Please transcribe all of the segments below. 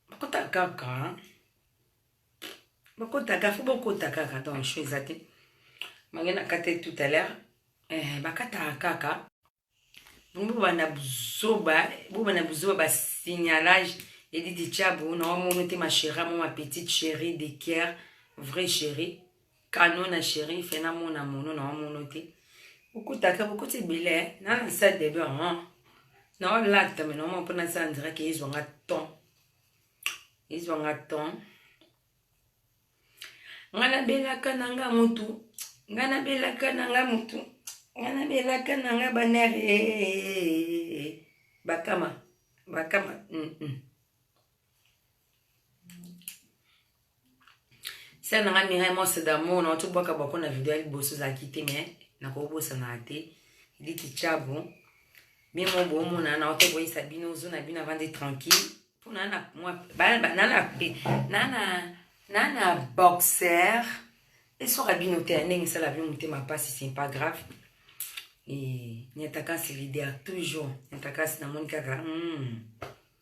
bakota kaka bakota kaka fo bakota kaka donc cho eza te mange nakate tout à l'heure eh, bakataka kaka bongo bobanda buzoba bobanda buzoba basignalage edidi chabu na wamono te machera mo ma petite chérie de kier vrai chérie Kano na sheriff na mona mono na wamono te okutaka bokuti ebele eh. na na sa debe hon ah. na olakta me na oma mpo na sa ndiraki ezwanga ton ezwanga ton nga nabelaka na nga mutu nga nabelaka na nga mutu nga nabelaka na nga banere eh, eh, bakama bakama mm -mm. sere na ngai mirai monse damour na oti bwaka bwako na video ya liboso ezalaki te mai nakobosanaka te eliki chabo bino mo boomona na oti boyisa bino ozo na bino avandi tranquille mpo naa na boxer esoka bino te ya ndenge esala bino motema mpasi c'est pas grave e nyataka nsi lider toujours nyataka nsi namoni kaka mm.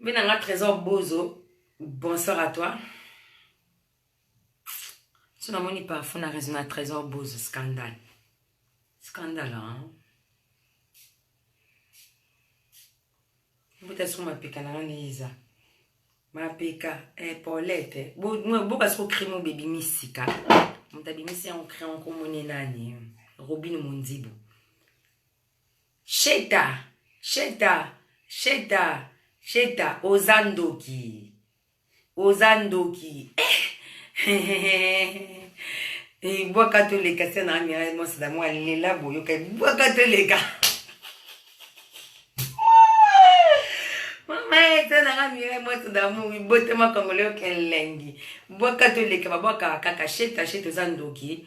Mais dans la trésor Bozo, bonsoir à toi. Tu n'as moni parfois na raison à trésor Bozo, scandale. Scandale, hein? mbuta soko mapeka na ngani eza mapeka epolete eh, boka soko crime oyo bebimi sika moto abimisi yango crime okomoni nani robine mondibo Sheta sheta sheta sheta oza ndoki oza ndoki eh. ebwaka eh, toleka se na amira mwasi na mwa lela boyoka ebwaka eh, toleka mama ete nanga amira mwasi damour ibotema kongole okelengi bwaka toleka babwaka kaka sheta sheta oza ndoki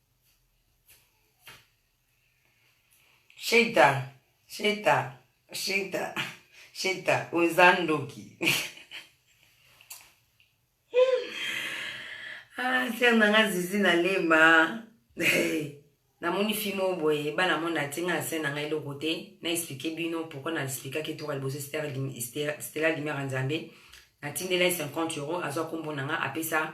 Sheta, sheta, sheta, sheta, oza ndoki. ah, sere na nga zizi na lema. namoni fimo boye bana moni atinga na sene na ngai eloko te na explike bino pourkui na explikaki toka liboso stela limere nzambe natindela ye 50 euro azwa nkombo na ngai apesa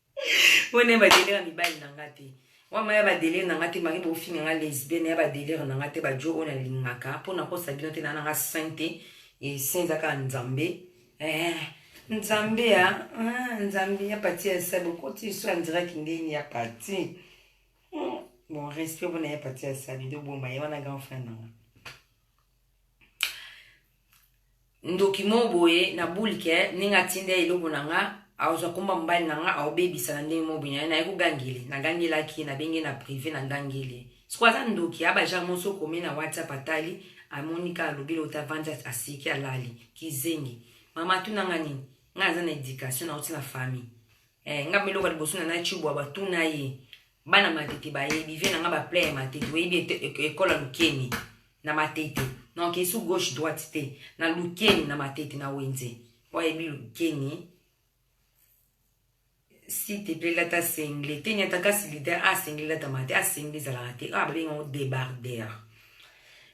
wana ya badelire ya mibali na nga te wama ya badelire na nga te mari bofinga nga lesbienne ya badelire na nga te bajo oyo nalingaka mpo nakosa bino te na nanga saint te esenza kaka nzambe eh, nzambe ya ah, nzambe ya pati ya sabe okoti liso ya ndiraki ndeni ya pati hmm, bon respect mpona ya pati ya sabe doboma ye wana grand frère na nga ndoki mo boye na boule ke ndenge atinda ye eloko na nga azwa komba mobali na nga aobebisa na ndenge mo boye naye naye kogangele nagangelaki ye nabenge na prive na ngangele siko aza ndoki aba genre mosi okomi na whatsapp atali amoni ka alobi eloko te avandi asiki alali kizengi mama atuna nga nini nga naza na education nauti na famille eh, nga meloko liboso na na chibwa batuna ye bana matete bayebi vie na nga ba plein ya matete oyebi ekola lukeni na matete donc esu gauche droite te na lukeni na matete na wenze po ayebi lukeni si te plaît lata sengle te nyata kasi lite asengle ah, lata mate asengle ah, ezalaka te ah babenga ngo debarder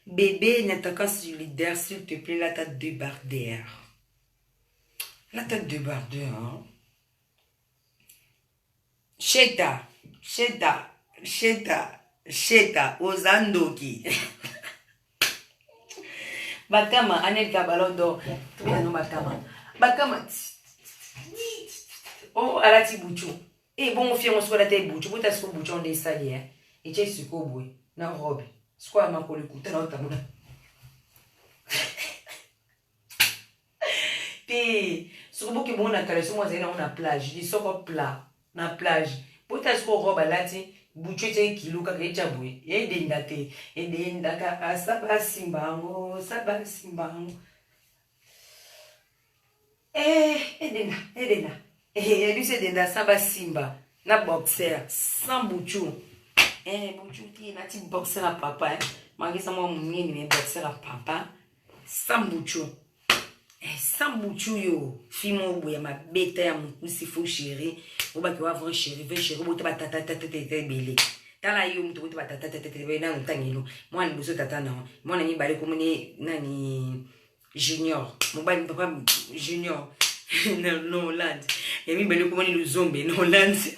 bebe nyata kasi leader s'il te plaît lata debarder lata debarder hein? Sheta sheta sheta sheta oza ndoki bakama anelka ballon d'or tobina no bakama bakama o oh, alati bucu e eh, bongo fiango soko alata ebucu bota soko bucu onde esali e etie sikoyo boye na robe sikoyo ya makolo ekutana otambola te soki bokimona kala somo azali nango na plage lisoko pla na plage botala soko robe alati butu ete ekilo kaka etya boye edenda te edenda kaka saba asimba yango saba asimba yango eh, edenda edenda yebisi eh, edenda saba asimba na boxer sans butu eh, butu te nati boxer ya papa eh. mangisa mwa monene me boxer ya papa Sambuchu. Eh, sambuchu yo. Fimo obo ya mabeta ya mukusi fo chéri. Oba ki wa vrai chéri, vrai chéri. Obo te ba tata tata tata tata ebele. Tala yo mutu obo te ba tata tata tata ebele. Nanu tangelo. Mwana liboso tata na. Mwana mibale komone nani junior. Mobali papa junior. na, na Hollande. Ya mibale komone luzombe na Hollande.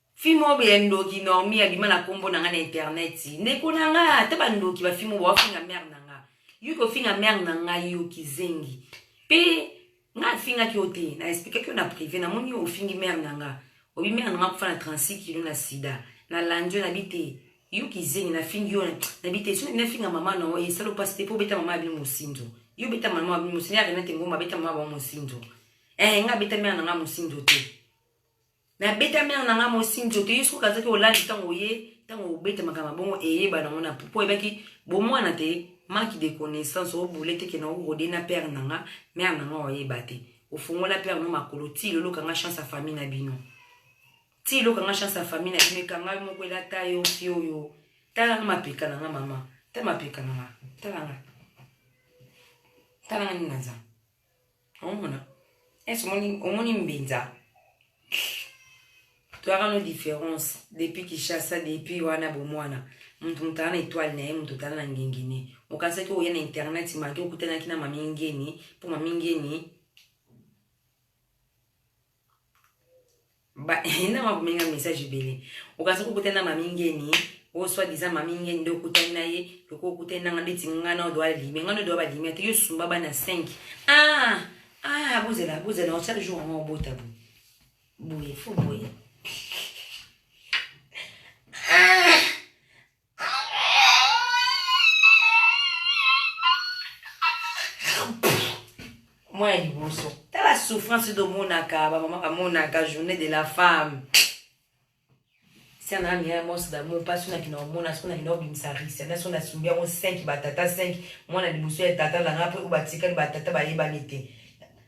Fille moko ya ndoki normie abima na kombo na nga na internet ndeko na nga ata ba ndoki ba fille moko ba finga mère na nga yo ko finga mère na nga yo kizengi pe nga finga ki ote na explique ki na privé na moni yo ofingi mère na nga obi mère na nga kufa na 36 kilo na sida na landio na bite yo kizengi na fingi yo na bite so na finga mama na oye salo pasi te po beta mama abino mosinzo yo beta mama abino mosinzo ya renate ngoma beta mama ba mosinzo eh nga beta mère na nga mosinzo te nabeta mère na nga mosi nzoto ye soki azaki olali ntango oye ntango obeta makambo bongo eyeba nango na pupo oyebaki bomwana te manque de connaissance obule te kena orode na père na nga mère na nga oyeba te ofongola père no makolo ti loloka nga chance ya famille na bino ti loka nga chance ya famille na bino ekanga yo moko elata yo fio yo tala nga mapeka na nga mama ta mapeka na nga tala nga tala nga nini naza omona esi omoni omoni mbinza toyaka no différence depuis kishasa depuis wana bomwana moto moto aa na etoile na ye moto otala na ngengene okanisaki oya na internet maki okutanaki na mamingeni mpo mamingeni ba na makomenga message ebele okasi kokuta na mami ngeni o soit disant mami ngeni nde okutani na ye loko okutani nanga ndeti nga na odo alime nga na odo balime ate yo sumba bana 5 ah ah bozela bozela na chaque jour yango obota bo boye fo boye ah mwa ya liboso tala souffrance domonaka bamama bamonaka journée de la femme siana ami ya mos damour mpa soki nakina omona soki nakina obimisa risi ana soki nasumbi yango 5 batata 5 mwana liboso ya tata na ngai mpe oyo batikali batata bayebani te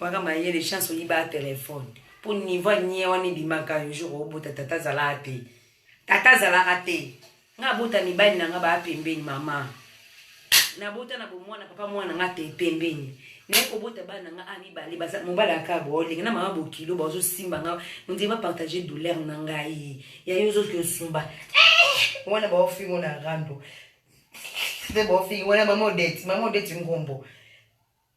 Waka mayele chance oyiba telefone mpo nivo anie wana ebimaka yo jour obota tata azalaka te tata azalaka te nga abota mibali na nga baa pembeni mama nabota na bomwana papa mwana nga te pembeni naye kobota bana nga a mibale mobali aka boolenge na mama bokilo baozosimba nga ondie bapartage douleur na ngai ya yo ozoki osumba eh! wana baofingo na rando nde baofingi wana mama odeti mama odeti ngombo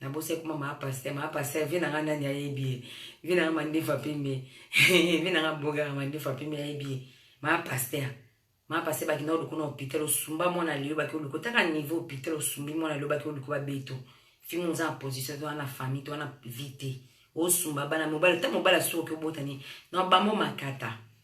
na bosa ekoma maa paster maa paster vie nanga nani ayebi ye vie nanga mandefu apembe vie nanga bogaka mandefu apembe ayebi ye maa paster maa paster bakenda oluku na hôpital osumba mwana lelo baki oluku otaka niveau hôpital osumbi mwana lelo baki oluku babeto fimi oza na position to wana famille to wana vie te osumba bana mobali ta mobali asuki oki obotani na bango makata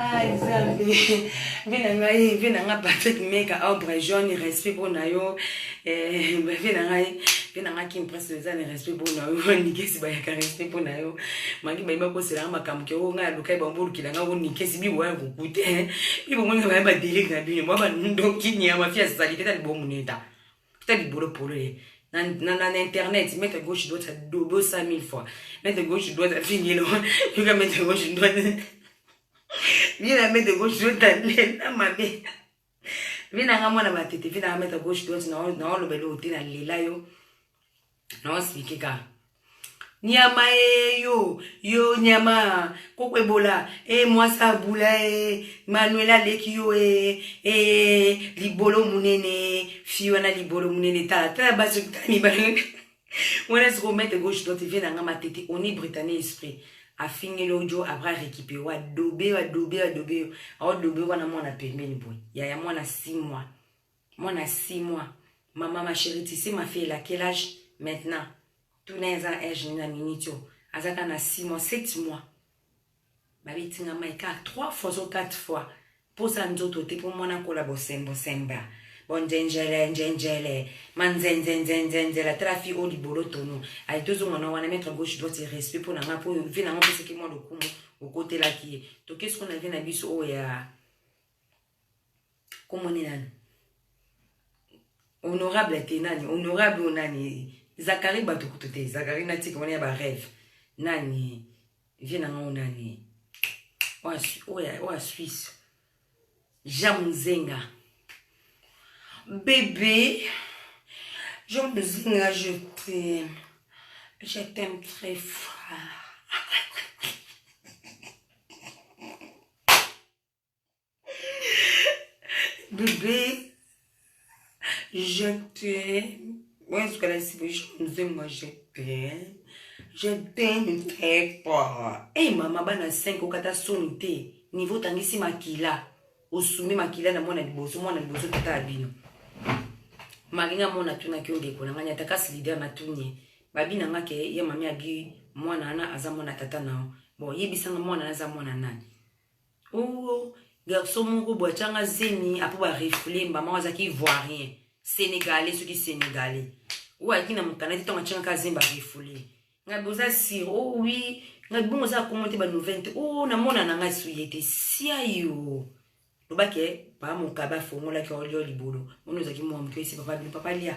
Ay, Zambi, vina ngai, vina nga Patrick Mega, Aubrey John, respect pour na yo, eh, vina ngai, vina nga Kim Press, eza ni respect pour na yo, nikesi ba yaka respect pour na yo, mangi ba iba kosela nga makambo ke o nga lukai ba mbulu kila nga o nikesi bi wa kukute, eh, ibo mwana ba ba delic na bino, ba ba ndoki ni ya mafia salite ta libo muneta. ta libolo polele na, na, na, na internet mettre gauche droite dodo 5000 fois mettre gauche droite afingelo yoka mettre gauche droite vie na mettre gauche droite alela mabe vie nanga mwana matete vie nanga mettre gauche droite naolobela oyo te nalela yo naosiki ka nyama e yo yo nyama koko ebola e mwasi abula e manuel aleki yo e e libolo monene fi wana libolo monene tala tala basi tala mibale wana sikoyo mete gauche droite vie na nga matete oni britannie esprit afingeli ojo après arekipe wadobe wadobe wadobe yo aodobe wana mwana pembeni boye yaya mwana 6 mois Mwana six mois maman ma cherie tu sais ma fille elle a quel age maintenant tuna ye aza na age nini na minute oyo aza kaka na six mois sept mois babeti nga mai kaka trois fois so quatre fois mposa nzoto te mpo mwana akola bosembo semba bonzenjele nzenjele manzenzenzenzenzela tala fi oyo libolo tono aye tozonga na wana maître gauche droite respect mpo na ngai mpo vi na ngai opesaki mwa lokumu okotelaki ye toke siko na vi na biso oyo ya Kombo ni nani? Honorable te nani? Honorable nani? Zakari bato kutu te. Zakari na tika wana ya ba rêve. Nani? Vie na ngai nani? Oya Suisse. Jean Muzenga. Bébé. Jean Muzenga, je t'aime. Je t'aime très fort. bebe je t'aime oyo ezokala esiboisha mzee moi je t'aime je t'aime très fort ey mama bana 5 okata soni te niveau otangisi makila osumi makila na mwana liboso mwana liboso tata ya bino malinga mona atunaki yo ndeko na ngai ata kasi lider natuni ye babi na nga ke ye mami abi mwana wana aza mwana tata na yo bon yebisanga mwana wana aza mwana nani Ooh garçon moko bo atianga zemi apo ba refouler mbama azaki ivoirien sénégalais soki sénégalais oyo ayaki na mokanda te ntango atianga ka zemi ba refouler ngai boza sir o oh wi ngai bongo oza akomo te banouvelle te o oh, namona na ngai suye te siayo lobake papa mokabe afongolaki olio libolo moni ozalaki mwa moke esi papa bino papa lia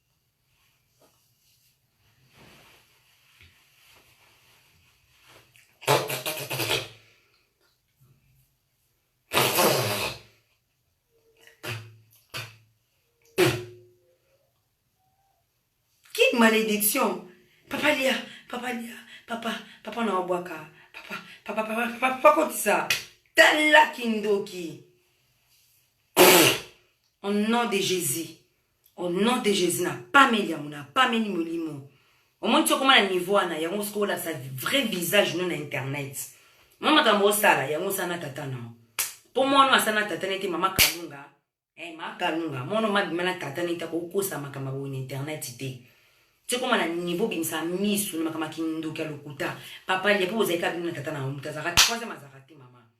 malédiction papa lia papa lia papa papa na wabwaka papa papa papa papa papa kotisa tala kindoki au nom de jésus Au nom de Jésus, na pameli yango, na pameli molimo. Omoni soko na niveau wana, yango soko olakisa vrai visage no na internet. Mama kambo osala, yango sana tata na. Po mwana asana tata nete mama kalunga. Eh ma kalunga, mwana mabima na tata nete ko kosa makamba bo na internet te. Soko na niveau bimisa misu na makamba kindoki ya lokuta. Papa lia po ozalika bino na tata na mutu azaka troisième azaka te mama.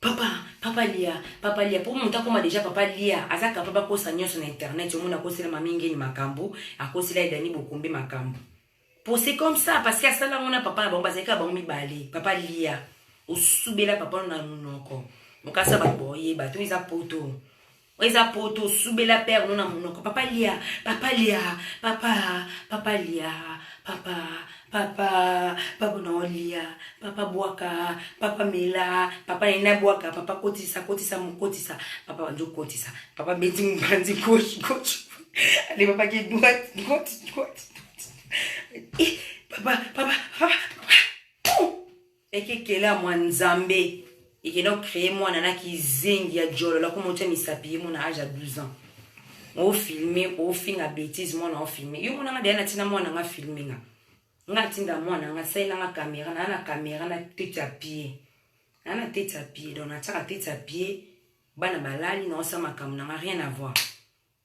Papa, papa lia, papa lia, po mutu akoma dejà papa lia, aza capable akosa nionso na internet, omoni akosela mami ngeni makambu, akosela ye Dani Bokumbi makambu. Po c'est comme ça, parce que asala yango na papa na bango, bazalaki kaka bango mibale, papa lia, osubela papa na munoko, okasa batu boyeba te, oyo eza poto. eza poto osubela père no na monoko papa lia papa lia papa papa lia papa papa papa na olia papa bwaka papa mela papa na ina bwaka papa kotisa kotisa mokotisa papa banzo kotisa papa beti mopanzi gauche gauche ale papa ke droite droite droite eh, papa papa papa Eke kela mwa nzambe ekenda ko créer mwana na kizengi ya djolo la ko motia misapi ye mona age ya 12 ans o filme o finga bêtise mwana o filme yo mona nga deya na tina mwana nga filme nga nga tinda mwana nga salela nga kamera na na kamera na tete ya pie na na tete ya pie donc na tiaka tete ya pie bana balali na osa makambo na nga rien à voir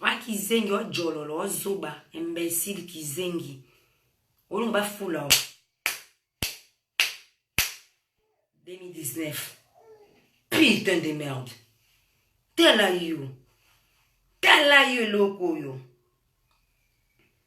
Wa kizengi wa jololo wa zoba imbecile kizengi olongo bafula wa 2019 putain de merde tala yo tala yo eloko oyo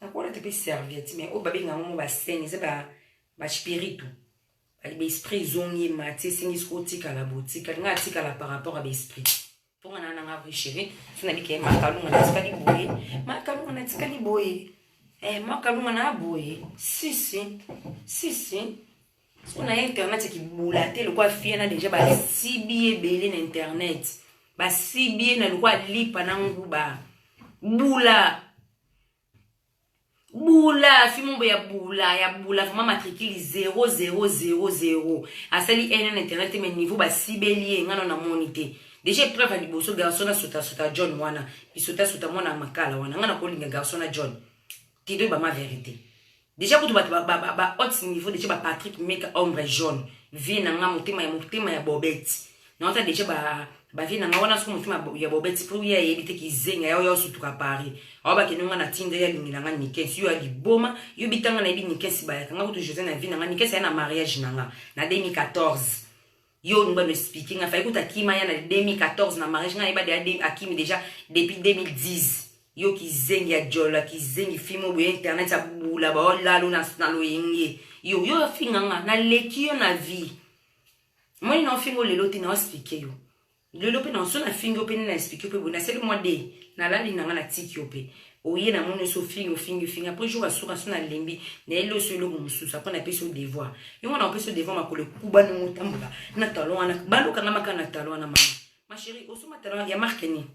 nakolata mpe serviette mais oyo babenga yango mo basene eza ba, ba spiritu baesprit ezongi ye mati esengi soki otikala botikali ngai atikala par rapport ya baesprit mponga na nanga vrai chéri so nabika ye makalunga natikali boye makalunga natikali boye eh, makalunga na boye sisi sisi so na ye internet ekibula te lokola fie na deja basibi ebele na internet basibi ye na lokola lipa na nguba bula bula fimombo ya bula ya bula vraiment matricule 0000 asali nn internet te mais niveau basibeli ye ngano namoni te deja epreuve ya liboso garçon na sotasota john wana bisotasota mwana ya makala wana ngai nakolinga garçon na john tido bama verité Deja kutu bato ba haute niveau deja ba Patrick Meka ombre jaune vie na nga motema ya motema ya bobeti naota deja ba ba vie na nga wana soki motema ya bobeti po ya yebi te kizenga yao yao sutuka Paris awa bakende nga na tinda ya lingila nga nikens yo ya liboma yo bitanga na yebi nikens bayaka nga kutu Jose na vie na nga nikens ya na mariage na nga na 2014 Yo olingi ba expliquer nga fayi kuta kima ya na 2014 na mariage nga yeba de akimi déjà depuis 2010 yo kizengi ya jola kizengi fimo boye internet ya bula ba olalo na na loyenge yo yo finga nga na leki yo na vie moni na ofingo lelo ti na expliquer yo lelo mpe nanso nafingi yo mpe nde na explike mpe boye nasali mwa de nalali na ngai natiki yo mpe oye na moni osi ofingi ofingi ofingi apres jour asuka so nalembi nayeli oso eloko mosusu apres napesi yo devoir yo wana opesi yo devoir makolo ekuba ndenge otambola na talon wana balokanga maka na talon wana mama ma chérie osoma talon ya marke nini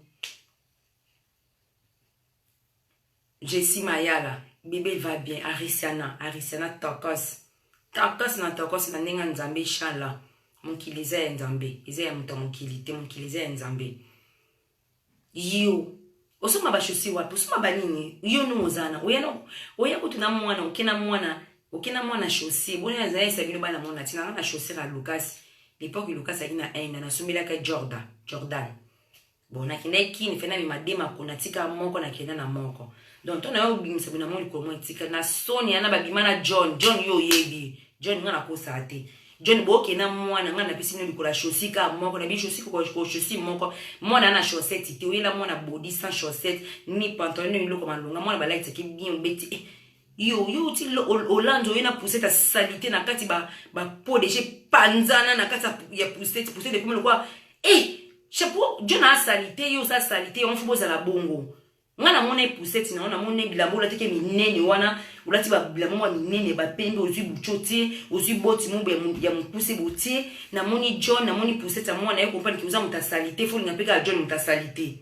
Jessie Mayala, bebe va bien, Arisiana, Arisiana tokos. Tokos na tokos na ndenge ya Nzambe inshallah. Mokili eza ya Nzambe, eza ya moto ya mokili te, mokili eza ya Nzambe. Yo, osomba ba chaussures wapi? Osomba ba nini? Yo nungo zana. Oya na oya kutu na mwana, oke na mwana, oke na mwana chaussure. Boni na zaisa bino bana mwana tina na chaussure ya Lucas. L'époque Lucas ali na Inde, na sombelaka Jordan, Jordan. Bon nakendaki kini fe namema de makolo natika moko nakenda na moko donc to nayo obimisa bino yango likolo moko etika na soni yana babima na john john yo oyebi john nga nakosaa te john boke na mwana ngai napesi bino likolo ya chaussure kaka moko na bino chaussure koko chaussure moko mwana ana chaussette te oyela mwana body sans chaussette ni pantalon ni eloko malonga mwana balatisaki bien obeti eh. yo yo uti olandi oye na poussette ya salite na kati bapo deja epanzana na kati ya poussette poussette ekomi lokola e chapeau john asalite yo oza salite yango fo bozala bongo ngai namona epuseti na yo namona bilamba olatiki minene wana olati bilamba mwa minene bapembe ozwi buco tie ozwi boti mobo ya mokuse botie namoni john namoni puseti ya mwana ye kompani ki oza moto asalite folinga mpe kaka john moto asalite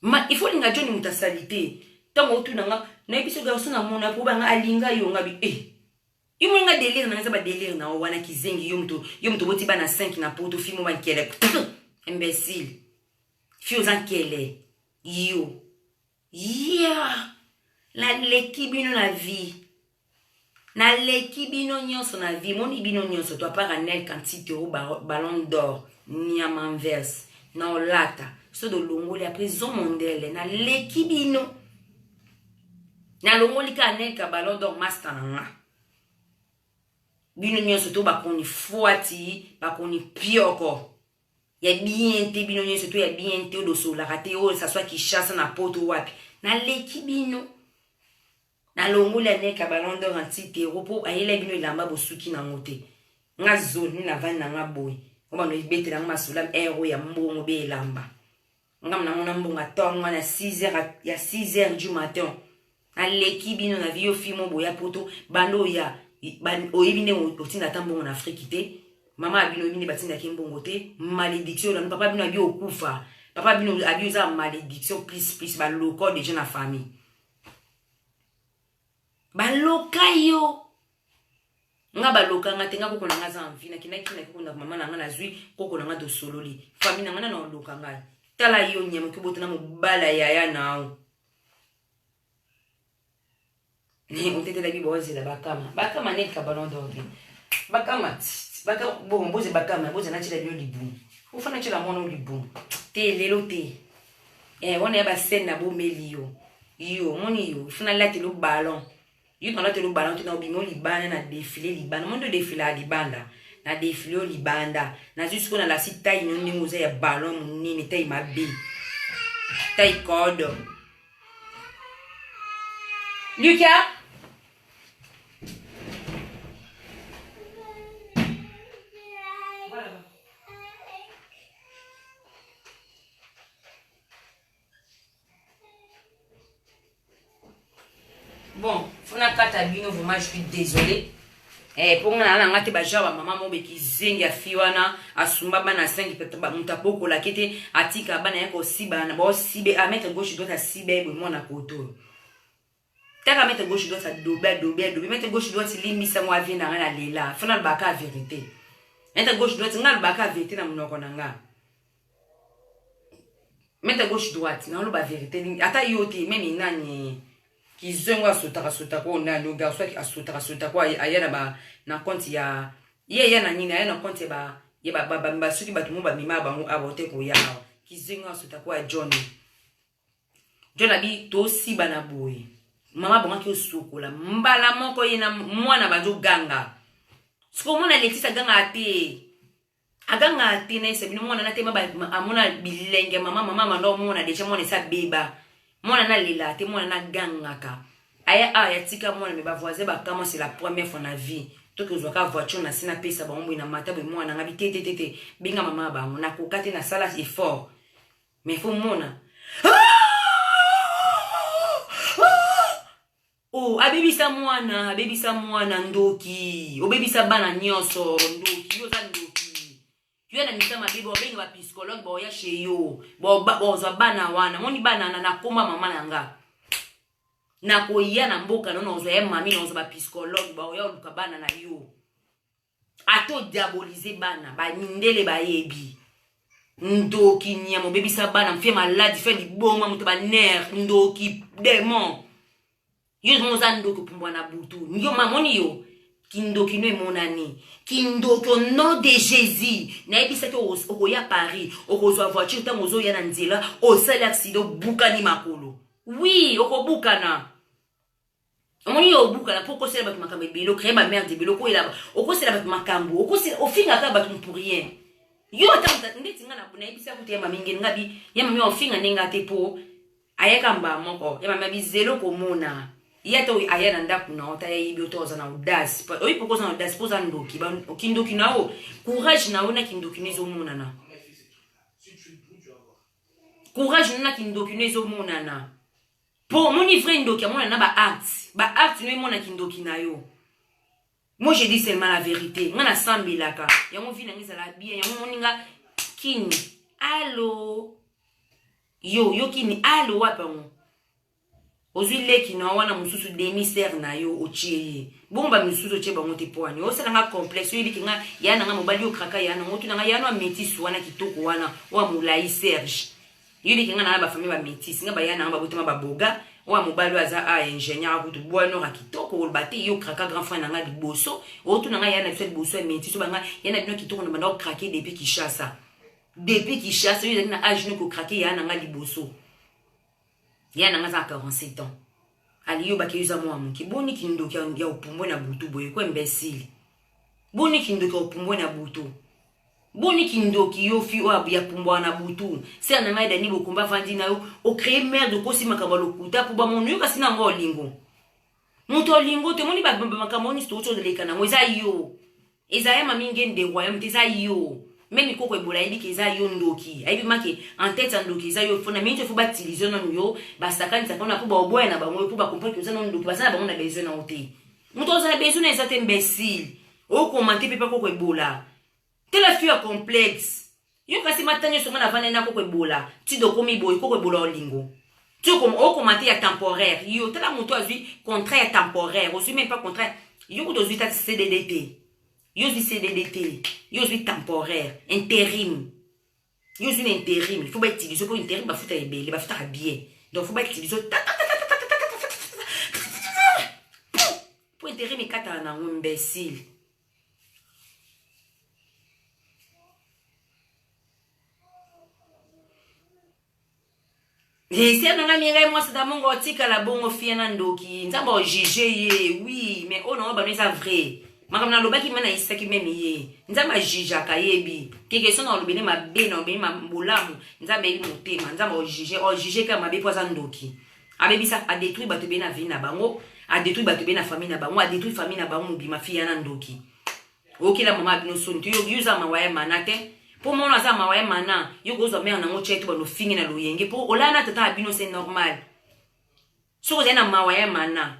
Ma, il faut linga John muta salite. Tango otuna nga, na yebi so garçon na mona po banga alinga yo nga bi eh. Yo mona nga délire na nga ba délire na wana kizengi yo mto yo mto boti bana 5 na poto fimo ba nkele. Imbécile. Fio za nkele. Yo. Yeah. La leki bino la vie. Naleki bino nionso na vie moni bino nionso to apart Anel Kantite o ballon d'or niama envers na olata soki olongoli après zo mondele naleki bino nalongoli ka Anel ka ballon d'or masta na nga bino nionso to bakoni fuati bakoni pioko ya bien te bino nyonso to ya bien te odosolaka te oyo saswa kishasa na poto wapi naleki bino Na longoli anieka ballon d'or anti Pierrot po ayela bino elamba bo suki na ngo te. Nga zone na vandi na nga boye. Ngo bando ibetela nga masolo heure oyo ya mbongo be elamba. Nga mna mona mbongo atongo nga na 6 heures ya 6 heures du matin. Na leki bino na vie yo fille mo boya poto bando oya oyebi nde otinda ata mbongo na Afrique te. Mama abino oyebi nde batinda ke mbongo te. Malédiction na papa bino abi okufa. Papa bino abi oza malédiction plus plus ba loko déjà na famille. baloka yo nga baloka nga te nga koko na nga aza envi nakendaki na koko na mama na nga nazwi koko na nga tosololi fami na nga na naoloka ngai tala yo nyama okibota na mobala yaya nao otetelaki bozela bakama bakama neti kabalon dorte bakama bongo boze bakama boza natyela bino libumu ofana tyela mwana o libumu te lelo te eh wana ya ba scène na bomeli yo yo moni yo funa lati lu ballon yo na lati lu ballon tuna obimo libanda na défilé libanda mondo défilé à libanda na défilé au libanda na juste ko na la site taille non ndingo za ya ballon munene taille mabe taille code Lucas bon fona kata bino vraiment je suis désolé eh, mpo nga nala nga te bagenre bamama mo bekizengi afi wana asumba bana 5 moto abokolaki te atika bana ye kosibana baosibe ametre gauche dote asibe boye mwana koto taka mete gauche droite adobe adobe adobe mete gauche droite limbisa ngo avie na nga na lela fana alobaka verite mete gauche droite nga alobaka verite na monoko na nga mete gauche droite na oloba verite ata yo te meme nani kizongo asotaka sotaka oyo nani ogarso asotaka sotaka oyo aya na ba na compte ya ye aya na nini aya na compte ya ba ya ba ba ba soki bato mo bamema bango awa ote koya awa kizongo asotaka oyo ya johnny jona bi tosiba na boye mama bongaki osukola mbala moko ye na mwana bazoganga sikomona alexis agangaka te agangaka te na esabino mwana na tema amona bilenge mama mama manda omona deja mwana esi abeba mwana nalelaka te mwana nagangaka aya awa yatika mwana me bavoisin bakama c'est la première fois na vie toki ozwaka voiture na se napesa bango boye na mata boye mwana ngai te te te te benga mama ya bango nakoka te nasala effort mais faut mona oh abebisa mwana abebisa mwana ndoki obebisa bana nyonso ndoki oza ndoki yo na misa mabe bobenga bapsychologue baoya chez yo bozwa bana wana moni bana na nakoma mama na nga nakoya na mboka no nazwa ya mami nazwa bapsychologue baoya oluka bana na yo ata odiabolize bana bamindele bayebi ndoki nyama obebisa bana mfe maladi fe liboma moto banere ndoki demon yo zongo oza ndoki opumbwa na butu yo mamoni yo kindoki no emonani kindoki au nom de jésus nayebisaki okoya paris okozwa voiture ntango ozoya na nzela osali aksida obukani makolo wi okobukana omoni yo obukana mpo okosela bato makambo ebele okreye bamerde ebele okoyela okosela bato makambo okosela ofingaka bato mpo rien yo ata ndeti nga nayebisa kutu ya mami ngeni nga bi ya mami ofinga nde nga te mpo ayaka mbaa moko ya mami abizelo komona ye ata aya na ndako na yo ata yayebi oto oza na audace oyebi mpo oza na audace mpo oza ndoki kindoki na yo courage na yo na kindoki no ezomonana courage no na kindoki no ezomonana Po omoni vrai ndoki amona na ba actes, ba actes no emona kindoki na yo. Moi je dis seulement la verite. Nga na sambelaka. Yango vie na nga ezala bien. Yango moni nga kini. Allo. Yo, yo kini. Allo wapi yango? ozwi leki na wana mosusu demi sere na yo otie ye bongo bamisusu otie bango te mpo wani osala nga complexe oyebiki nga ya na nga mobali okraka ya nango tuna nga ya no ametisi wana kitoko wana oyo molai serge yo leke nga na ba famille ba métis nga ba yana nga ba botama ba boga oyo mobali aza a ah, ingénieur akutu bwa nora kitoko oloba te yo kraka grand frère na nga liboso otuna nga yana biso liboso ya métis oba nga yana bino kitoko na banda okrake depuis Kinshasa depuis Kinshasa yo ezali na âge noko krake yana nga liboso yana nga za 47 ans ali yo baki yoza mwa moke boni kindoki ya opumbwe na butu boye ko imbécile boni kindoki ya opumbwe na butu Boni kindoki yo fi oyo ya pumbwa na butu sere na ngai dani bokomba avandi na yo ocree merde okosi makambo ya lokuta mpo bamono yo kasi na yango olingo moto olingo te omoni makambo nyonso touti oleka na yango eza yo eza ya mami ngende royaume te eza yo meme koko ebola ayebi ke eza yo ndoki ayebi make en tete ya ndoki eza yo fo na mingi fo batilize nanu yo basakanisa mpona mpo baoboya na bango yo mpo bakomprendre ke oza na ndoki baza na bango na besoin na yo te moto azala besoin eza te imbecile okomante mpe pakoko ebola tela fio ya complexe yo kasi mata nyonso ngai navanda na koko ebola tido okomi boye koko ebola olingo ti okomante ya temporaire yo tala moto azwi contrat ya temporaire ozwi meme pa contrat yo kutu ozwi tati cdd te yo ozwi cdd te yo ozwi temporaire interim yo ozwi na interim fo bautilize mpo interim bafuta ebele bafutaka bien donc fo bautilize mpo interim ekataka na yango imbecile Eh, sia nanga miengai mwasi da mongo otikala bongo fia na ndoki nzambe ojuge ye oui mais oyo nango bano eza vrai makambo nalobaki me nayisaki meme ye nzambe ajujaka yebi keke so na olobi nde mabe na olobi bolamu nzambe yebi motema nzambe ojuge ojuge kaka mabe mpo aza ndoki abebisa adetruire bato bee na vie na bango adetruire bato bee na famille na bango adetruire famille na bango mobima fia na ndoki okela mama ya bino soni te yo oza mawa ya mana te mpo mwana aza mawa ya mana yo kozwa mare nango tya to bando ofingi na loyenge mpo olala na tata ya bino se normal soki ozali na mawa ya mana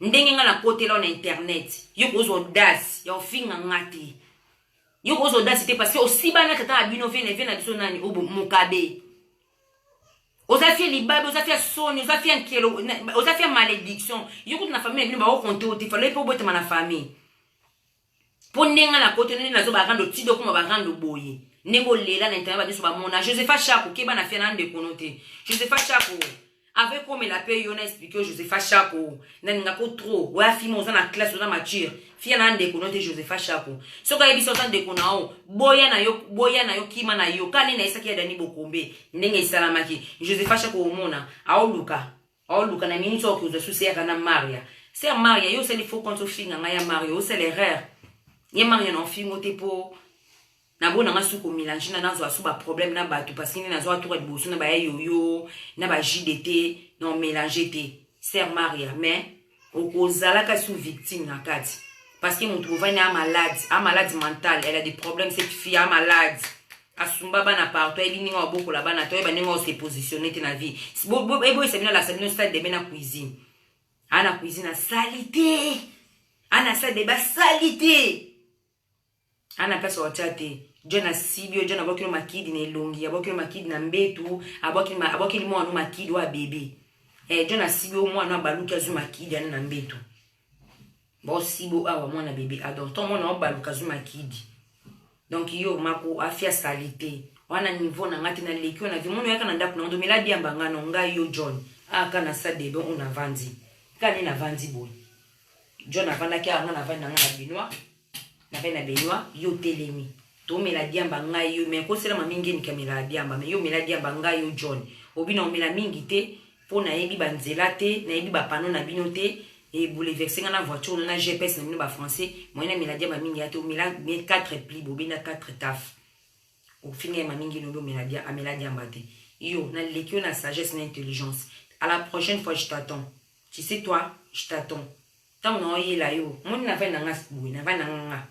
ndenge ngai nakotela na internet yo kozwa odasi ya ofinga nga te yo kozwa odasi te parce que osiba na tata ya bino vene vene na biso nani obo mokabe oza fie libabe oza fie soni oza fie nkelo oza fie malédiction yo kutu na famille na bino bakokonte yo te falo ye mpe obotama na famille mpo ndenge nga na koto nde nazoba rando ti dokoma ba rando boye ndenge olela na internet banyonso bamona josepha shako keba na fiana ndeko no te josepha shako avec komela mpe yo na explike yo josepha shako nalingako trop oya fima oza na classe oza mature fia na ndeko no te josepha shako soki ayebisa oza ndeko na yo boya na yo boya na yo kima na yo kani nayesaki ya dani bokombe ndenge esalamaki josepha shako omona aoluka Oluka na nini soki oza susi yaka na Maria. Sœur Maria, yo sali faux compte ofinga nga ya Maria, yo sala erreur. Ye Maria na ofingo te po na bona nga suko mélange na nazo asu ba problème na batu parce que nazo atura liboso na ba yoyo na ba JDT na mélange te. Sœur Maria, mais okozalaka sous victime na kati parce que moto bovani a malade a malade mentale elle a des problèmes cette fille a malade asumba bana partout ayebi ndenge obokola bana te oyeba ndenge ose positionne te na vie eboyisa bino alasa bino stade debe na cuisine ana cuisine asali te ana stade debe asali te Ana place watia te. John asibi yo, John abwakeli makidi na elongi, abwakeli makidi na mbetu, abwakeli ma, abwakeli mwana no makidi wa bebe. Eh John asibi yo mwana abaluki azwi makidi ana na mbetu. Ba osibo awa mwana bebe adon. Ah, Ton mwana obaluka azwi makidi. Donc yo mako afia salite. Wana niveau na ngati na leki na vie. Mwana yaka na ndaku na ndo mela diamba ngano ngai yo John. Ah kana sa bebe on avandi. Kani na vandi boy. John avandaki awa nga na vandi na nga na binois. na pe na benoit yo telemi tomela diamba ngai yo me kosela mami ngeni kamela diamba me yo mela diamba ngai yo john obina omela mingi te mpo nayebi banzela te nayebi bapano na bino te eboulevese ngai na voiture na na gps na bino bafrançais moyen na mela diamba mingi ya te omela bien 4 pli bobenda 4 taf ofinga ye mamingi lobi omela dia amela diamba te yo naleki yo na sagesse na intelligence à la prochaine fois je t'attends tu sais toi je t'attends Tango na yo yela yo. Moni na vani na nga boye na vani na nga nga.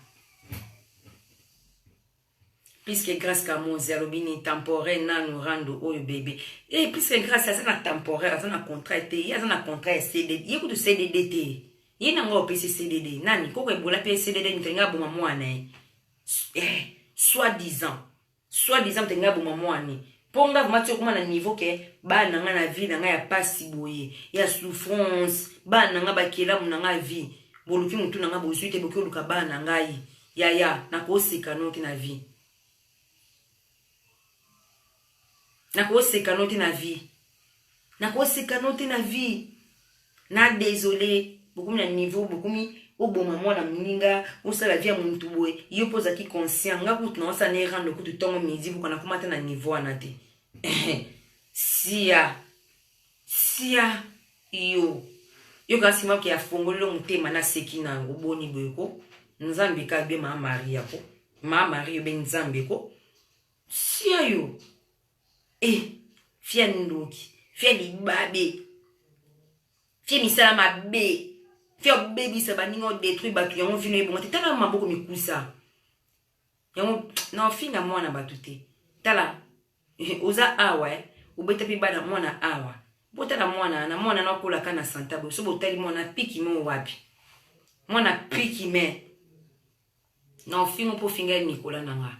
Puisque Grace Kamozi alobi ni temporaire nanu rando oyo bebe. Eh puisque Grace aza na temporaire aza na contrat te ye aza na contrat ya CDD ye kutu CDD te. Ye na nga opesi CDD nani koko ebola pe CDD mikalinga aboma mwana ye. Eh soit disant. Soit disant peut-être ngai aboma muani po ngai vraiment ti okoma na niveau que bana na ngai na vie na ngai ya pasi boye ya souffrance bana na ngai bakelamu na ngai vie boluki mutu na ngai bozui te boki oluka bana na ngai yaya nakoseka no te na vie nakoseka no te na vie nakoseka no te na vie na desole bokomi na niveau bokomi oboma mwana moninga osala vie ya muntu boye yo mpo ozalaki conscient nga kutu na osala ne rendre kutu ntongo midi boka nakoma ata na niveau wana te sia sia yo yoka nsima ke afongolelo motema naseki na yango boni boye ko nzambe ka be maa maria ko maa maria obe nzambe ko Sia yo eh, fia ndoki fia libabe fia misala mabe fia obebisa baninga odetruire bato yango vino ebonga te tala maboko mikusa yango na ofinga mwana bato te tala eh, oza awa eh. obeta mpe bana mwana awa botala mwana na mwana nakolaka na santa boye so botali mwana piki mo wapi mwana piki me na ofingo mpo ofinga ye nikola na nga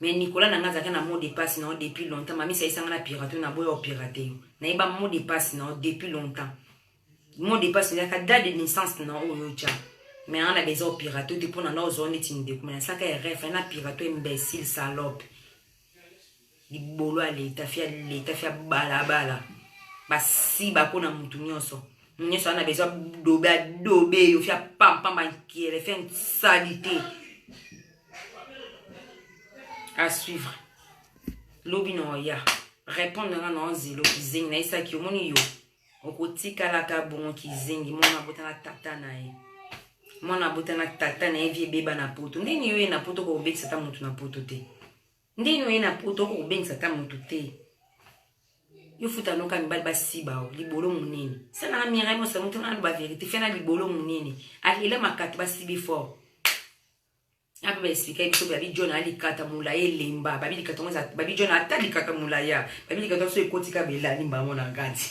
me nikola na nga azalaki na mot de passe na yo depuis longtemps mamisa ayisanga na pirate yo naboya opirate yo nayeba mot de passe na yo depuis longtemps mot de passe ezalaka date de naissance na oyo otya me anga na beza opirate yo te mpo na nga ozwa neti ndeko me nasalaka eref na pirate imbécile salope libolo ya leta fia leta fia balabala basiba mpo na motu nyonso motu nyonso ana bezwa dobe adobe yo fia pampamba nkele fia nsali te à suivre lobi na oya répondre nga na ozelo kizengi nayesaki omoni yo okotikalaka bongo kizengi mwana abotana tata na ye mwana abotana tata na ye vi ebeba na poto ndenge yo ye na poto kokobetisa ata motu na poto te Ndeni oye na poto oko kobengisa ata moto te. Yo futa noka mibali basiba o libolo munene. Sana na Mireille Mosa mutu na ba verite fena libolo munene. Alela makati basibi fort. Ape ba expliquer biso babi John ali kata mulaya elemba. Babi likata ngo babi John ata likata mulaya. Babi likata so ekotika belani mbango na ngati.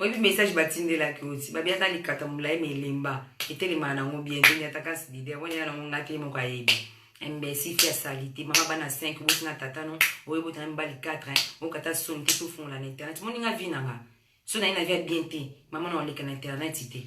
oyebi message batindelaki oti babi aza likata molai ma elemba etelemaka nango bien te nyataka sidide yango nyaka nango ngai te ye moko ayebi imbécile ya salite mama bana 5 oboti na tata no oye botana mibali 4 okata soni te tofungola na internet moni nga vi na nga so naye na vi ya bien te mama na oleka na internet te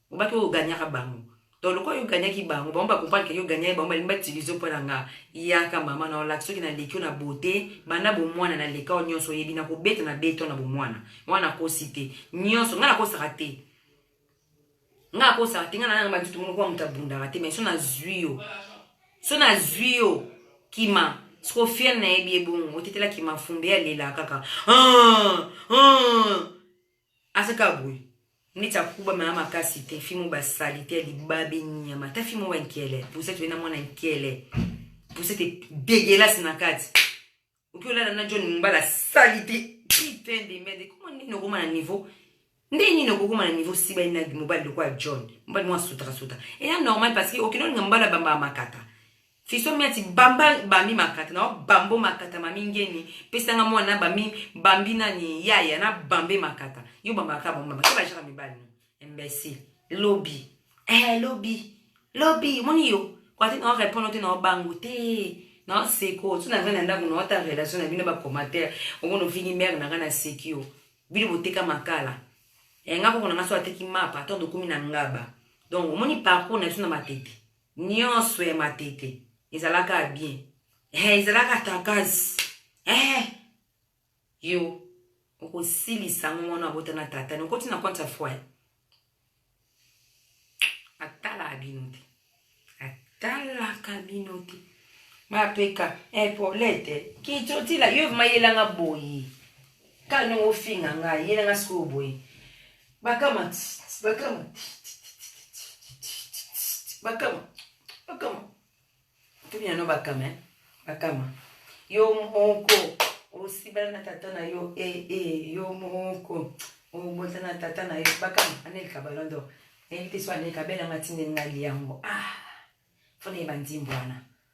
Obaki oyo gagnaka bango. Donc lokola yo gagnaki bango, bango ba comprendre que yo gagnaki bango, balingi ba utiliser mpo na nga. Yaka mama na olakisa soki na leki yo na beauté, banda bomwana na leka yo nyonso oyebi na kobeta na beton na bomwana. Mwana akosi te. Nyonso nga nakosaka te. Nga akosaka te nga na nanga bantu tumungu kwa mutu abundaka te mais so nazwi yo. So nazwi yo kima siko fiel nayebi ebongo otetela kima fumbe alela kaka. Ah! Ah! Aza kaka boye neti akuba maya makasi te fimo ba salite libabe nyama ta fimo ba nkele pusete bena mwana nkele pusete degelasi na kati oki olala na john mbala salite putain de merde koma nini okoma na niveau nde nini okokoma na niveau si baina mobali lokola john mobali mwa sutaka suta eya normal parce que okende olinga mobali abambaka makata Fiso miati bamba bami makata na bambo makata mami ngeni pesa nga mwana na bami bambi nani yaya na bambe makata yo bamba ka bamba makata bajaka mibali no imbécile lobby eh lobby lobby moni yo kwa te na répondre te na bango te na seko tu na vana ndako na ta relation na bino ba commentaire okono vini mère na kana sekio bino boteka makala eh nga ko na ngaso ateki mapa to dokumi na ngaba donc moni parcours na biso na matete Nionso ya matete ezalaka bien eh, ezalaka takasi eh, yo okosilisa ngo mwana abota na tata nokoti na compte ya foyer atalaka bino te atalaka bino te mapeka epaulete eh, kitotila yo mayelanga boye kani ofinga ngai yelanga sikoyo boye Bakama, bakama, bakama, bakama. Tuni yano bakama, eh? bakama. Yo moko, osibala na tata na yo, eh, eh, yo moko, obota na tata na yo, bakama, anelika ballon d'or. Nayebi te so anelika bela matinde nali yango. Ah, fona yeba nzimbo wana.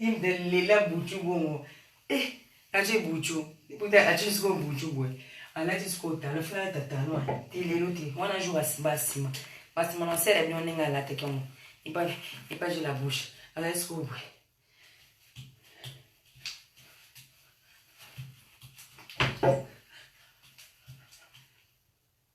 Inda lela butu bongo. Eh, aje butu. Ikuta aje siko butu bwe. Alati siko talo fana alata talo wana. Ti lelo ti wana jour asiba asima. Basima na sere bino ndenge alata kemo. Ipa ipa je la bouche. Alati siko bwe.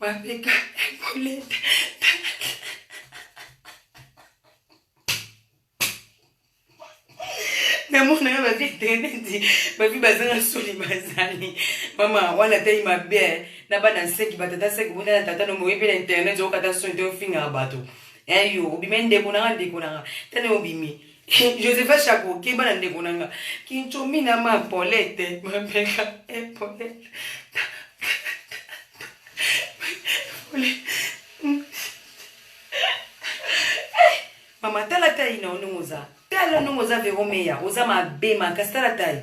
Mapeka ekolete. namona yo babi teneti babi bazanga soni bazali mama wana tai mabe na bana nseki batata seki bota na tata no moyebi na internet okata soni te ofingaka bato eyo obimi ndeko nanga ndeko nanga tani obimi Josepha Chapo keba na ndeko na nga kinchomi na ma polete mapeka e polete mama tala tai na yo ndenge oza tala ndenge oza vero meya oza mabe makasi tala tai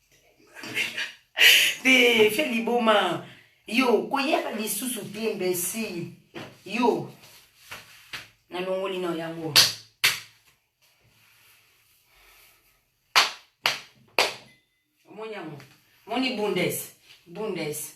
te fe liboma yo koyaka lisusu te mbesi yo nalongoli na yango omoni yango moni bundes bundes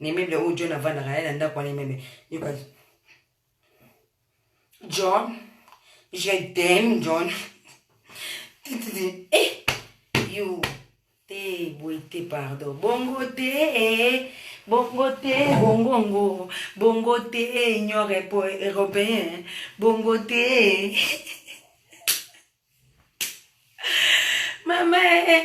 na immeuble oyo john avandaka ye na ndako wana immeuble yoka john je t'aime john eh yo te boye te pardon bongo te eh. bongo te bongongo bongo te union européen bongo te mama eh.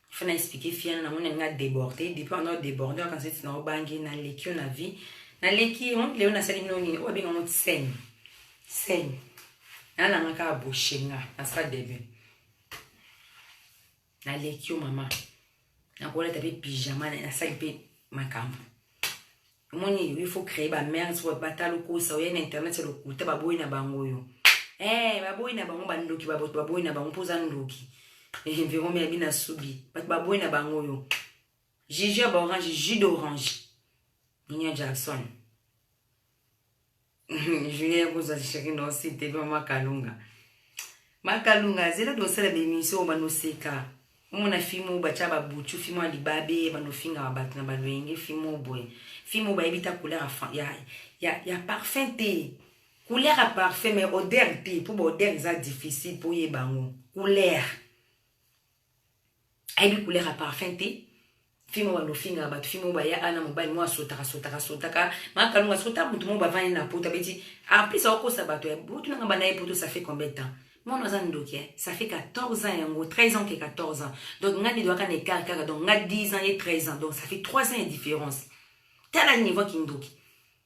il faut na expliquer fille wana namoni alinga deborde depuis wana odeborde okanisa eti na obangi naleki yo na vie naleki yo leo nasali bino nini oyo abenga yango scène scène nalanga kaka boshenga na sala debut naleki yo mama nakolata mpe pyjama nasali mpe makambo omoni il faut créer ba merde sikoyo bata lokosa oye na internet ya lokuta baboyi na bango oyo eh baboyi na bango bandoki baboto baboyi na bango mpo oza ndoki eh, environ miyabi na subi bato baboyi na bango oyo jiji ya baorange jus d'orange ninia jackson julien yakozwa sheri na osi te mpe makalunga makalunga zela dosala bemission oyo banoseka omona fime oyo batya babutu fime ya libabe banofingaka bato na balwenge fime oyo boye fime oyo bayebi ta couleur ya, ya, ya parfum te couleur ya parfum mai odeur te mpo baodeur eza difficile mpo oyeba yango couleur ayebi couleur ya parfum te fimo bando ofingaka bato fimo baya ana mobali moko asotaka sotaka sotaka makalunga soki ta motu moko bavandi na poto abeti en plus akokosa bato ya butu nanga banda ye poto ça fait combien de temps mwana aza ndoki ça fait 14 ans yango 13 ans ke 14 ans donc ngai nidwaka na écart kaka donc ngai 10 ans ye 13 ans donc ça fait 3 ans ya différence tala niveau kindoki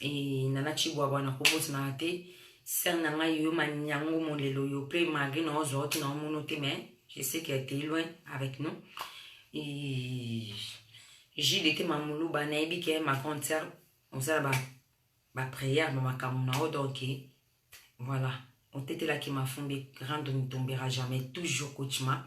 et nana chibwabwa nakobosanaka te sœur na ngai yo manyango molelo yo mpe malgré na ozwa oti na omono te mais je sais que t'es loin avec nous et jude ete mamuluba nayebi ke ma grande sœur ozala ba baprière ma makambo na yo donc voilà otetelaki mafumbi rien ne tombera jamais toujours kuchima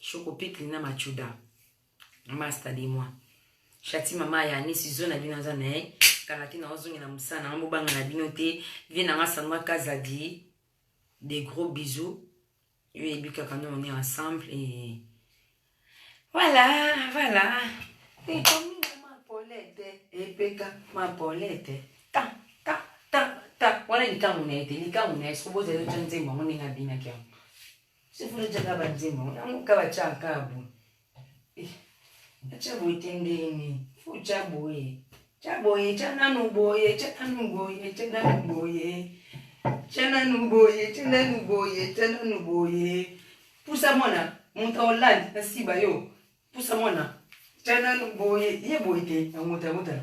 Choco Pikli na Machuda. Masta de moi. Shati mama ya ni sizo na bino aza na ye. Kala te na ozongi na musana na ngambo banga na bino te. Vie na nga sanwa kazadi. Des gros bisous. Yo yebi kaka nous on est ensemble et voilà, voilà. Et comme ma polette, et peka ma polette. Ta ta ta ta. Wana likangu na ye te, likangu na ye soki bozali otya nzembo yango ndenge abinaki yango. Sifuri chaka banzimo yango kaba chaka bu. Acha boye tendeni. Fu cha boye. Cha boye cha nanu boye cha nanu boye cha nanu boye. Cha nanu boye cha nanu boye cha nanu boye. Pusa mwana moto olandi na siba yo. Pusa mwana cha nanu boye ye boye te yango ta motala.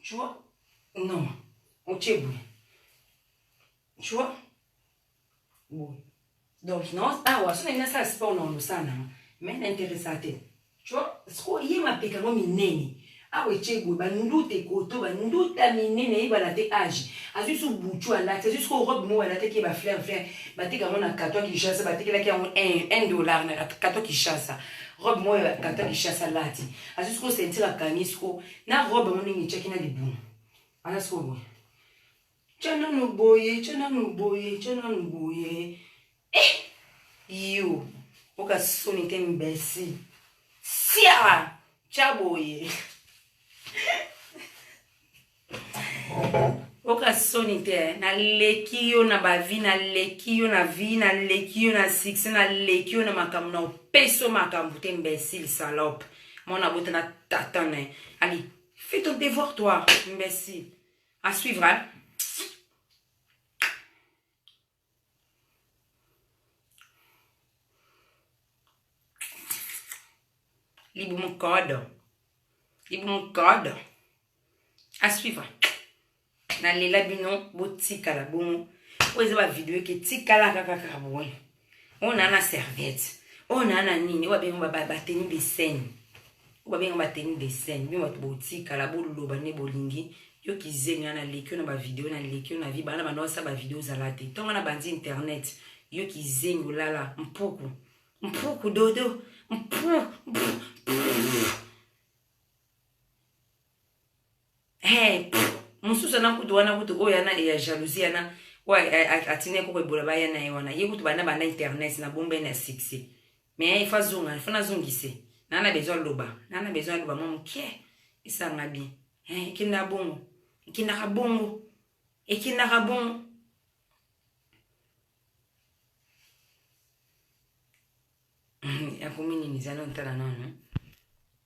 Tu vois? Non. Otie boye. Tu vois? Boye. Donc, non, awa, soki nalingi nasala sport na olosa na mais na interesa te. Tu vois? Sikoyo ye mapeka yango minene. awa etye boye banduta ekoto banduta minene eyebana te age azwi su butu alati azwi soko robe moko alataki ye bafleur fleur bateka yango na kato ya kinshasa batekelaki yango 1 dollar na kato ya kinshasa robe moko ya kato ya kinshasa alati azwi soko sentire akangi soko na robe yango ndenge etyaki na libumu wana sikoyo boye tya nanu boye tya nanu boye tya nanu boye eh! yo oka soni te mbesi sia tya boye oka soni te eh. naleki yo na bavi naleki yo na vi naleki yo na succès naleki yo na makambo na opeso makambo te mbesi lisalope mwana abota na tata na ye allez fais ton devoir toi imbécile à suivre hein? libumu code libumu code à suivre nalela bino botikala bongo oyo eza bavideo eke tikala kaka kaka boye oyo naa na serviette oyo naa na nini oyo babenga bateni de scène oyo babenga bateni de scène bino bato botikala boloba nde bolingi yo kizeni wana naleki yo na bavideo naleki yo na vi bana banda osala bavideo ozala te ntongo na banzi internet yo kizeni olala mpuku mpuku dodo mpuku Hey, mosusu ana kutu wana kutu oyo ana ya jalousie ana oyo atina ye koko ebola baya na ye wana ye kutu banda banda internet na bomba ye na succès mais ifa zonga ifa nazongise naa na besoin aloba naa na besoin aloba mwa moke esanga bien hey, ekenda bongo ekendaka bongo ekendaka bongo akomi nini zana ntala nano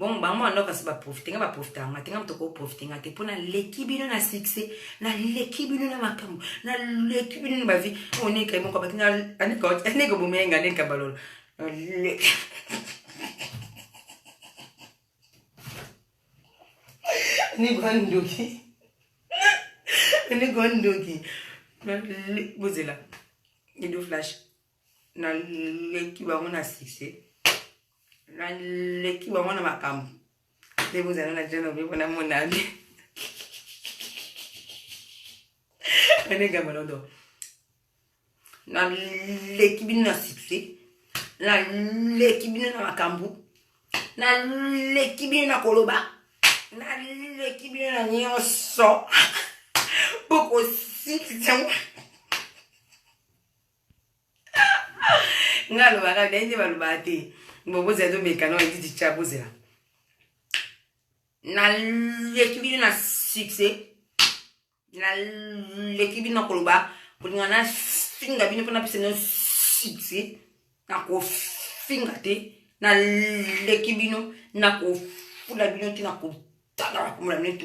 Bon, bango wana kasi ba profiter nga ba profiter nga te nga mtoko ko profiter nga te pona leki bino na succès na leki bino na makambo na leki bino na ba vie on est quand même ko bakina aneka aneka bomenga aneka balolo ni bandoki ni bandoki bozela ido flash naleki bango na succès naleki bango na makambo nde bozala na jana obe mpona monami anegamba lodo naleki bino na succès naleki bino na makambo naleki bino na koloba naleki bino na nyonso bokosilisa nga alobaka naye nde balobaka te bobozela tobekana editi tya bozela naleki bino na succès naleki bino koloba kolinga nafinga bino mpo napesa bino succès nakofinga te naleki bino nakofula bino te nakotala bakomola bino te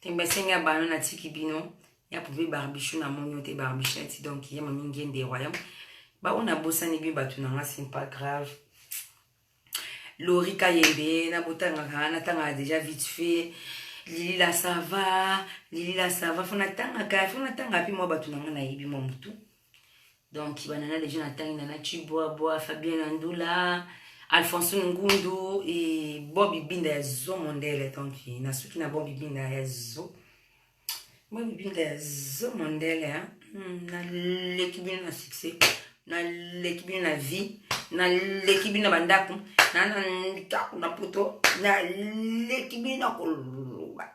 Tembe sengi ya bano na tiki bino ya pope barbichou na moni ote barbichou na ti donc ye mami ngende royaume ba ona bosani bi batu na nga c'est pas grave Lori Kayembe na botanga ka na tanga déjà vite fait Lili la sava Lili la sava fona tanga ka fona tanga pi mwa batu na nga na yebi mwa mutu donc banana deja natangi nana chibwabwa fabien na ndula alphonsine ngundu e bob ibinda ya zo mondele donc nasuki na bob ibinda ya zo bob ibinda ya zo mondele hmm, naleki bino na succès naleki bino na vie naleki bino na bandako nana ndako na poto naleki bino na koloba